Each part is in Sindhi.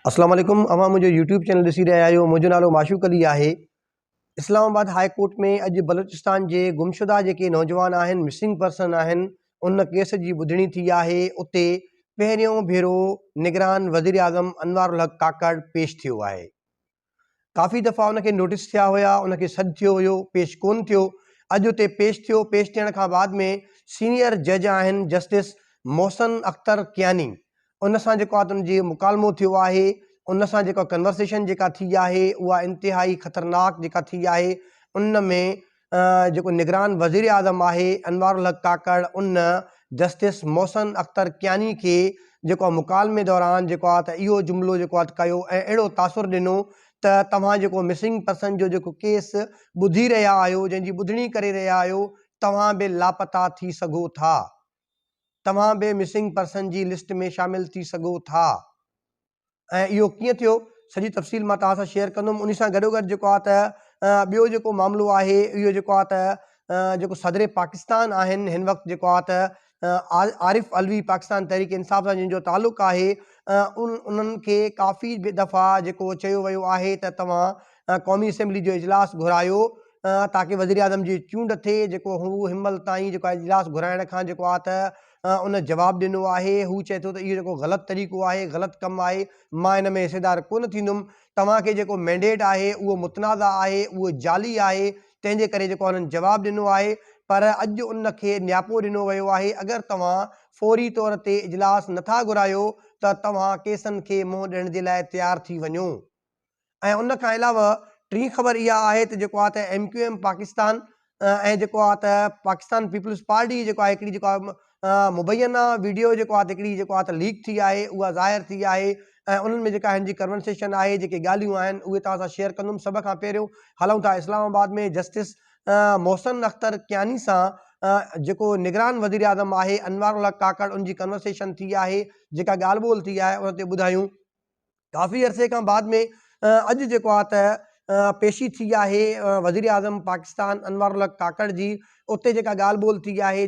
اسلام عليڪم اوهان منهنجو يوٽيوب چينل ڏسي رهيا آهيو منهنجو نالو معشوق علي آهي اسلام آباد هاء ڪورٽ ۾ اڄ بلوچستان جي گمشده جيڪي نوجوان آهن مسنگ پرسن آهن ان ڪيس جي ٻڌڻي ٿي آهي اتي پهريون ڀيرو نگران وزيراعظم انوارالحق ڪاڪڙ پيش ٿيو آهي ڪافي دفعا ان کي نوٽيس ٿيا هيا، ان کي سڏ ٿيو هيو، پيش ڪونه ٿيو، اڄ اتي پيش ٿيو، پيش ٿيڻ کان بعد ۾ سينئر جج آهن جسٽس محسن اختر ڪياني، ان سان جيڪو آهي ان جي مڪالمو ٿيو آهي، ان سان جيڪا ڪنورسيشن جيڪا ٿي آهي اها انتهائي خطرناڪ جيڪا ٿي آهي، ان ۾ جيڪو نگران وزيراعظم آهي انوارالحق ڪاڪڙ ان جسٽس محسن اختر ڪياني کي جيڪو آهي مڪالمي دوران جيڪو آهي ته اهو جملو جيڪو آهي ڪيو ۽ اهڙو تاثر ڏنو ته توهان جيڪو مسنگ پرسن جو جيڪو ڪيس ٻڌي رهيا آهيو جنهن جي ٻڌڻي ڪري رهيا آهيو توهان به لاپتا ٿي سگهو ٿا توهان به مسنگ پرسن جي لسٽ ۾ شامل ٿي سگهو ٿا. ۽ اهو ڪيئن ٿيو سڄي تفصيل مان توهان سان شيئر ڪندم ان سان گڏو گڏ جيڪو آهي ته ٻيو جيڪو معاملو آهي اهو جيڪو آهي ته جيڪو صدر پاڪستان آهن هن وقت جيڪو آهي ته عارف علوي پاڪستان تحريڪ انصاف سان جن جو تعلق آهي ان انهن کي ڪافي دفعا جيڪو چيو ويو آهي ته توهان قومي اسيمبلي جو اجلاس گهرايو تاڪي وزيراعظم جي چونڊ ٿئي جيڪو هو هن مهل تائين جيڪو اجلاس گهرائڻ کان جيڪو آهي ته ان جواب ڏنو آهي. هو چئي ٿو ته اهو جيڪو غلط طريقو آهي، غلط ڪم آهي، مان ان ۾ حصيدار ڪونه ٿيندم. توهان کي جيڪو مينڊيٽ آهي، اهو متنازع آهي، اهو جعلي آهي، تنهن جي ڪري جيڪو هنن جواب ڏنو آهي، پر اڄ ان کي نياپو ڏنو ويو آهي. اگر توهان فوري طور تي اجلاس نٿا گهرايو ته توهان ڪيسن کي منهن ڏيڻ جي لاء تيار ٿي وڃو. ۽ ان کان علاوه ٽين خبر اها آهي ته جيڪو آهي ته ايم ڪيو ايم پاڪستان ۽ جيڪو آهي ته پاڪستان پيپلز پارٽي جيڪو آهي هڪڙي جيڪو مبينا ويڊيو جيڪو آهي هڪڙي جيڪو آهي ته ليڪ ٿي آهي اها ظاهر ٿي آهي ۽ انهن ۾ جيڪا هن جي ڪنورسيشن آهي جيڪي ڳالهيون آهن اهي توهان سان شيئر ڪندم سڀ کان پهريون هلون ٿا اسلام آباد ۾ جسٽس محسن اختر ڪياني سان جيڪو نگران وزير اعظم آهي انوار الحق ڪاڪڙ ان جي ڪنورسيشن ٿي آهي جيڪا ڳالهه ٻولهه ٿي آهي ان تي ٻڌايون ڪافي عرصي کان بعد ۾ اڄ جيڪو آ ته پيشي ٿي آهي وزيراعظم پاڪستان انوار الحق ڪاڪڙ جي اتي جيڪا ڳالهه ٻولهه ٿي آهي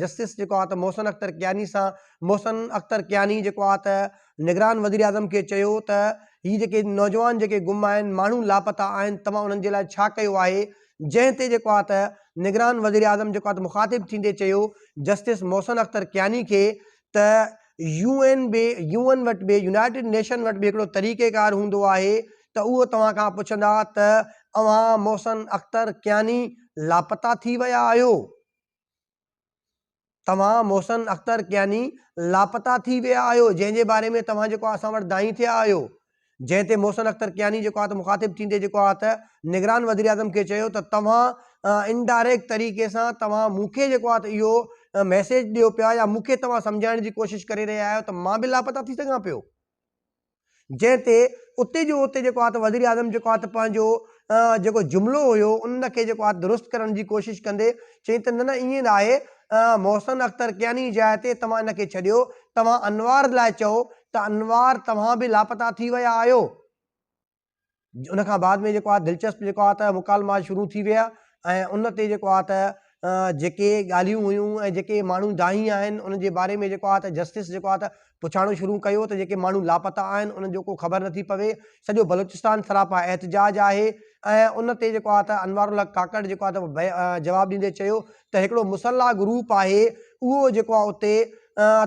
جسٽس جيڪو آ ته محسن اختر ڪياني سان محسن اختر ڪياني جيڪو آ ته نگران وزيراعظم کي چيو ته هي جيڪي نوجوان جيڪي گم آهن ماڻهو لاپتا آهن توهان انهن جي لاء ڇا ڪيو آهي جنهن تي جيڪو آ ته نگران وزيراعظم جيڪو آ ته مخاطب ٿيندي چيو جسٽس محسن اختر ڪياني کي ته يو اين به يو اين وٽ به يونائيٽيڊ نيشن وٽ به هڪڙو طريقي ڪار هوندو آهي ته اهو توهان کان پڇندا ته اوهان محسن اختر ڪياني لاپتا ٿي ويا آهيو؟ توهان محسن اختر ڪياني لاپتا ٿي ويا آهيو جنهن جي باري ۾ توهان جيڪو اسان وٽ دانهين ٿيا آهيو جنهن تي محسن اختر ڪياني جيڪو آهي ته مخاطب ٿيندي جيڪو آهي ته نگران وزيراعظم کي چيو ته توهان انڊائريڪٽ طريقي سان توهان مون کي جيڪو آهي ته اهو ميسيج ڏيو پيا يا مون کي توهان سمجهائڻ جي ڪوشش ڪري رهيا آهيو ته مان به لاپتا ٿي سگهان پيو جنهن تي اتي جو اتي جيڪو آهي ته وزيراعظم جيڪو آهي ته پنهنجو جيڪو جملو هيو ان کي جيڪو آهي درست ڪرڻ جي ڪوشش ڪندي چيائين ته نه نه ائين ناهي محسن اختر ڪياني جاء تي توهان ان کي ڇڏيو توهان انوار لاء چئو ته انوار توهان به لاپتا ٿي ويا آهيو. ان کان بعد ۾ جيڪو آهي دلچسپ جيڪو آهي ته مڪالما شروع ٿي ويا ۽ ان تي جيڪو آهي ته جيڪي ڳالهيون هيون ۽ جيڪي ماڻهو دانهي آهن ان جي باري ۾ جيڪو آهي ته جسٽس جيڪو آهي ته پڇاڻو شروع ڪيو ته جيڪي ماڻهو لاپتا آهن انهن جو ڪو خبر نٿي پوي سڄو بلوچستان سراپا احتجاج آهي ۽ ان تي جيڪو آهي ته انوار الحق ڪاڪڙ جيڪو آهي ته جواب ڏيندي چيو ته هڪڙو مسلح گروپ آهي اهو جيڪو آ اتي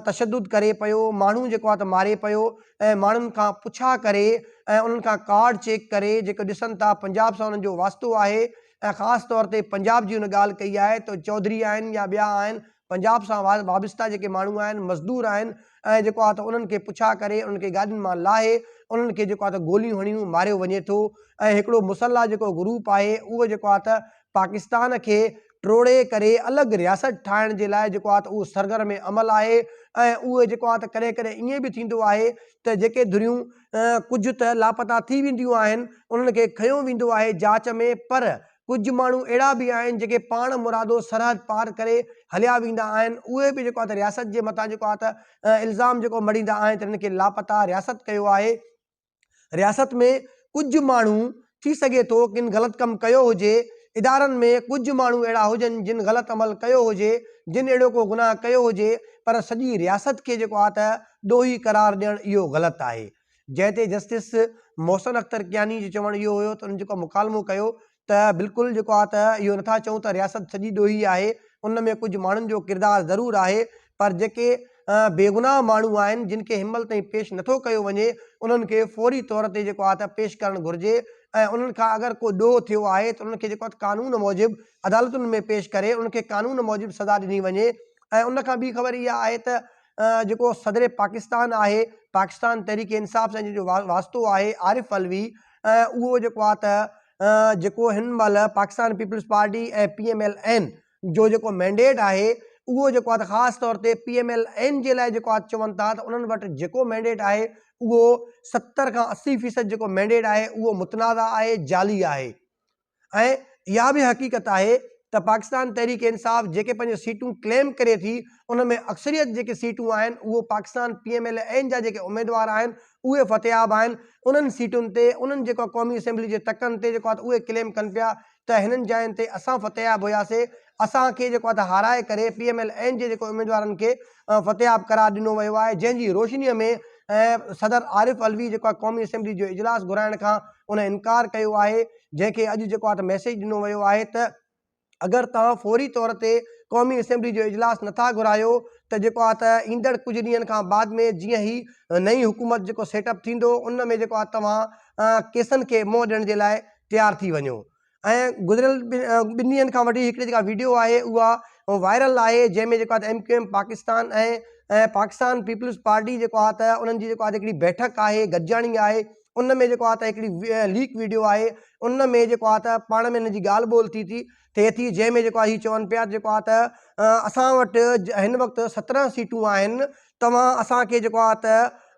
تشدد ڪري پيو ماڻهو جيڪو آ ته ماري پيو ۽ ماڻهن کان پڇا ڪري ۽ انهن کان ڪارڊ چيڪ ڪري جيڪو ڏسن ٿا پنجاب سان انهن جو واسطو آهي ۽ خاص طور تي پنجاب جي هن ڳالهه ڪئي آهي ته چوڌري آهن يا ٻيا آهن پنجاب سان وابسته جيڪي ماڻهو آهن مزدور آهن ۽ جيڪو آ ته انهن کي پڇا ڪري انهن کي گاڏين مان لاهي انهن کي جيڪو آ ته گوليون هڻيون ماريو وڃي ٿو ۽ هڪڙو مسلح جيڪو گروپ آهي اهو جيڪو آ ته پاڪستان کي ٽوڙي ڪري الڳ رياست ٺاهڻ جي لاء جيڪو آهي ته اهو سرگرم عمل آهي ۽ اهو جيڪو آهي ته ڪڏهن ڪڏهن ائين به ٿيندو آهي ته جيڪي ڌريون ڪجهه ته لاپتا ٿي وينديون آهن انهن کي کنيو ويندو آهي جاچ ۾ پر ڪجهه ماڻهو اهڙا به آهن جيڪي پاڻ مرادو سرحد پار ڪري هليا ويندا آهن اهي به جيڪو آهي ته رياست جي مٿان جيڪو آهي ته الزام جيڪو مڙهيندا آهن ته هنن کي لاپتا رياست ڪيو آهي رياست ۾ ڪجهه ماڻهو ٿي سگهي ٿو ڪن غلط ڪم ڪيو هجي، ادارن ۾ ڪجهه ماڻهو اهڙا هجن جن غلط عمل ڪيو هجي، جن اهڙو ڪو گناهه ڪيو هجي پر سڄي رياست کي جيڪو آ ته ڏوهي قرار ڏيڻ اهو غلط آهي. جنهن تي جسٽس محسن اختر ڪياني جو چوڻ اهو هيو ته انهن جيڪو مڪالمو ڪيو ته بلڪل جيڪو آ ته اهو نٿا چئون ته رياست سڄي ڏوهي آهي، ان ۾ ڪجهه ماڻهن جو ڪردار ضرور آهي پر جيڪي بيگناهه ماڻهو آهن جن کي هنمهل تائين پيش نٿو ڪيو وڃي انهن کي فوري طور تي جيڪو آ ته پيش ڪرڻ گهرجي ۽ انهن کان اگر ڪو ڏوهه ٿيو آهي ته انهن کي جيڪو آ ته قانون موجب عدالتن ۾ پيش ڪري انهن کي قانون موجب سزا ڏني وڃي ۽ ان کان ٻي خبر اها آهي ته جيڪو صدر پاڪستان آهي، پاڪستان تحريڪ انصاف سان جنهن جو واسطو آهي عارف علوي اهو جيڪو آهي ته جيڪو هن مهل Pakistan Peoples Party ۽ P M L N جو جيڪو مينڊيٽ آهي اهو جيڪو آهي ته خاص طور تي پي ايم ايل اين جي لاء جيڪو آهي چون ٿا ته انهن وٽ جيڪو مينڊيٽ آهي اهو ستر کان اسي فيصد جيڪو مينڊيٽ آهي اهو متنازع آهي جعلي آهي ۽ اها به حقيقت آهي ته پاڪستان تحريڪ انصاف جيڪي پنهنجون سيٽون ڪليم ڪري ٿي ان ۾ اڪثريت جيڪي سيٽون آهن اهو Pakistan P M L N جا جيڪي اميدوار آهن اهي فتحياب آهن انهن سيٽن تي انهن جيڪو قومي اسيمبلي جي تڪن تي جيڪو اهي ڪليم ڪن پيا ته هنن جاين تي اسان فتحياب هياسي اسان کي جيڪو هارائي ڪري پي ايم ايل اين جي جيڪو اميدوارن کي فتحياب قرار ڏنو ويو آهي جنهن جي روشني ۾ صدر عارف علوي جيڪو آهي قومي اسيمبلي جو اجلاس گهرائڻ کان ان انڪار ڪيو آهي جنهن کي اڄ جيڪو آهي ته ميسيج ڏنو ويو آهي ته اگر توهان فوري طور تي قومي اسيمبلي جو اجلاس نٿا گهرايو ته جيڪو آهي ته ايندڙ ڪجهه ڏينهن کان بعد ۾ جيئن هي نئين حڪومت جيڪو سيٽ اپ ٿيندو ان ۾ جيڪو آهي توهان ڪيسن کي منهن ڏيڻ جي لاء تيار ٿي وڃو ۽ گذريل ٻن ڏينهن کان وٺي هڪڙي جيڪا ويڊيو آهي اها وائرل آهي جنهن ۾ جيڪو M Q M Pakistan ۽ Pakistan Peoples Party جيڪو آهي ته انهن جي جيڪو آهي هڪڙي بيٺڪ آهي گڏجاڻي آهي ان ۾ جيڪو آهي ته هڪڙي ليڪ ويڊيو آهي ان ۾ جيڪو آهي ته پاڻ ۾ هن جي ڳالهه ٻولهه ٿي ٿي ٿئي ٿي جنهن ۾ جيڪو آهي هي چون پيا جيڪو آهي ته اسان وٽ هن وقت سترهن سيٽون آهن توهان اسان کي جيڪو آهي ته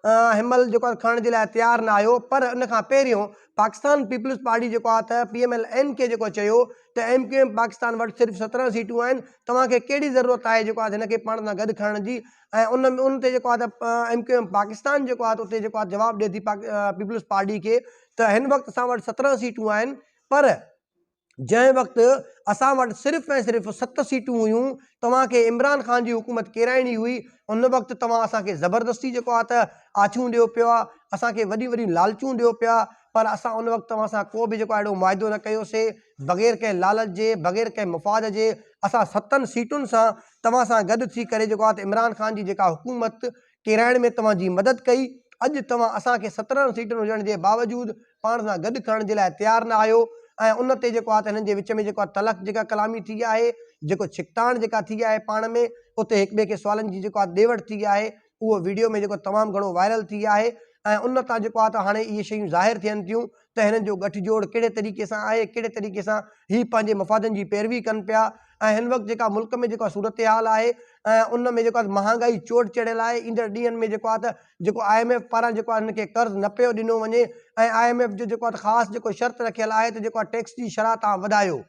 هينمهل جيڪو آهي کڻڻ جي لاء تيار نه آهيو پر ان کان پهريون پاڪستان پيپلز پارٽي جيڪو آهي ته پي ايم ايل اين کي جيڪو چيو ته ايم ڪيو ايم پاڪستان وٽ صرف سترهن سيٽون آهن توهان کي ڪهڙي ضرورت آهي جيڪو آهي هن کي پاڻ سان گڏ کڻڻ جي ۽ ان ان تي جيڪو آهي ته ايم ڪيو ايم پاڪستان جيڪو آهي ته اتي جيڪو آهي جواب ڏي ٿي پيپلز پارٽي کي ته هن وقت اسان وٽ سترهن سيٽون آهن پر جنهن وقت اسان وٽ صرف ۽ صرف ست سيٽون هيون، توهان کي عمران خان جي حڪومت ڪيرائڻي هئي، ان وقت توهان اسان کي زبردستي جيڪو آ ته آڇون ڏيو پيو آ، اسان کي وڏيون وڏيون لالچون ڏيو پيا، پر اسان ان وقت توهان سان ڪو به جيڪو آ اهڙو معاهدو نه ڪيو سي، بغير ڪنهن لالچ جي، بغير ڪنهن مفاد جي، اسان ستن سيٽن سان توهان سان گڏ ٿي ڪري جيڪو آ ته عمران خان جي جيڪا حڪومت ڪيرائڻ ۾ توهان جي مدد ڪئي، اڄ توهان اسان کي سترهن سيٽن هجڻ جي باوجود پاڻ سان گڏ کڻڻ جي لاء تيار نه آهيو ۽ ان تي جيڪو آ ته هنن جي وچ ۾ جيڪو آ تلخ جيڪا ڪلامي ٿي آهي، جيڪو ڇڪتاڻ جيڪا ٿي آهي پاڻ ۾ اتي هڪ ٻئي کي سوالن جي جيڪو آ ڏي وٺ ٿي آهي اهو وڊيو ۾ جيڪو تمام گهڻو وائرل ٿي آهي ۽ ان تان جيڪو آ ته هاڻي اهي شيون ظاهر ٿين ٿيون ته هنن جو ڳٺ جوڙ ڪهڙي طريقي سان آهي، ڪهڙي طريقي سان هي پنهنجي مفادن جي پيروي ڪن پيا ۽ هن وقت جيڪا ملڪ ۾ جيڪا صورتحال آهي ان ۾ جيڪو مهانگائي چوٽ چڙهيل آهي، ايندڙ ڏينهن ۾ جيڪو آهي ته جيڪو آء ايم ايف پاران جيڪو آهي هن کي قرض نه پيو ڏنو وڃي ۽ آء ايم ايف جو جيڪو آهي ته خاص جيڪو شرط رکيل آهي ته جيڪو آهي ٽيڪس جي شرح تان وڌايو.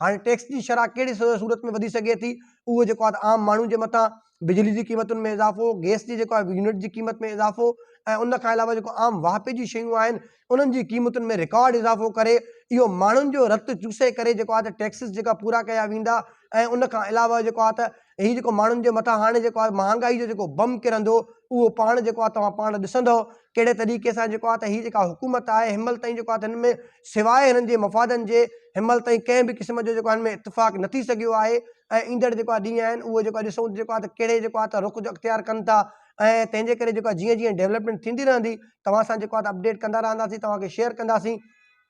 هاڻي ٽيڪس جي شرح ڪهڙي صورت ۾ وڌي سگهي ٿي اهو جيڪو آهي عام ماڻهو جي مٿان بجلي جي قيمتن ۾ اضافو گيس جي جيڪو آهي يونٽ جي قيمت ۾ اضافو ۽ ان کان علاوه جيڪو عام واهپي جي شيون آهن انهن جي قيمتن ۾ رڪارڊ اضافو ڪري اهو ماڻهن جو رت چوسي ڪري جيڪو آهي ته ٽيڪسز جيڪا پورا ڪيا ويندا ۽ ان کان علاوه جيڪو آهي ته هي جيڪو ماڻهن جي مٿان هاڻي جيڪو آهي مهانگائي جو جيڪو بم ڪرندو اهو پاڻ جيڪو آهي توهان پاڻ ڏسندو ڪهڙي طريقي سان جيڪو آهي ته هي جيڪا حڪومت آهي هنمهل تائين جيڪو آهي هن ۾ سواء هنن جي مفادن جي هنمهل تائين ڪنهن به قسم جو جيڪو هن ۾ اتفاق نه ٿي سگهيو آهي ۽ ايندڙ جيڪو آهي ڏينهن آهن اهو جيڪو ڏسون جيڪو آهي ته ڪهڙي جيڪو آهي ته رخ جو اختيار ڪن ٿا ۽ تنهن جي ڪري جيڪو جيئن جيئن ڊيولپمينٽ ٿيندي رهندي توهان سان جيڪو آهي اپڊيٽ ڪندا رهنداسين توهان کي شيئر ڪنداسين